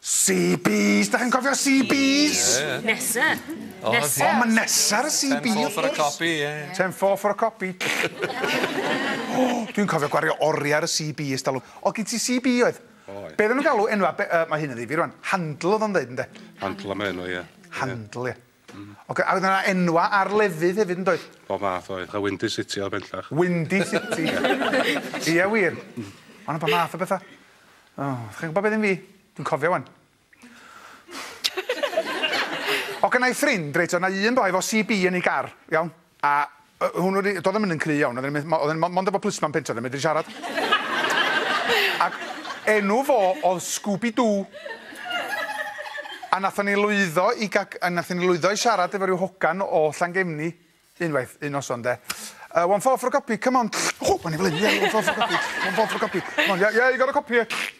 CBs! Dach chi'n cofio CBs? Ie, ie. Nesa. O, Nesa. O, ma' Nesa ar y CB, wrth gwrs. Ten four for a copy, ie, ie. Ten four for a copy. O! Dwi'n cofio gwario oria ar y CB ers dalwm. O'dd gin ti CB oedd? Oedd. Be' oddan nw'n galw enwa' be- yy ma' hyn yn ddifyr rŵan, handle o'dd o'n ddeud ynde? Handle ma' enw, ie. Handle, ie. Mm. Ocê a oedd yna enwau ar lefydd hefyd yn doedd? Bob math oedd, a Windy City oedd bellach. Windy City! Ia wir? Mm. O' 'na bob math o betha. O, chi'n gwybod beth am fi? Dwi'n cofio wan. O gynnai ffrind reit oedd yna un boi efo CB yn ei gar, iawn? A yy hwnnw 'di... Do'dd e 'im yn un cry' iawn, oedden ni... Oedden ni mond efo plismon pentre, oedden ni'n medru siarad. Ac enw fo o'dd Scooby Doo. A nathon ni lwyddo i ga- a nathon ni lwyddo i siarad efo ryw hogan o Llangefni unwaith, un noson 'de. Yy one four for a copy, come on. Ww! O'n i fel 'yn, ie, one four for a copy, one four for a copy. C'mon, yeah, yeah, you got a copy here.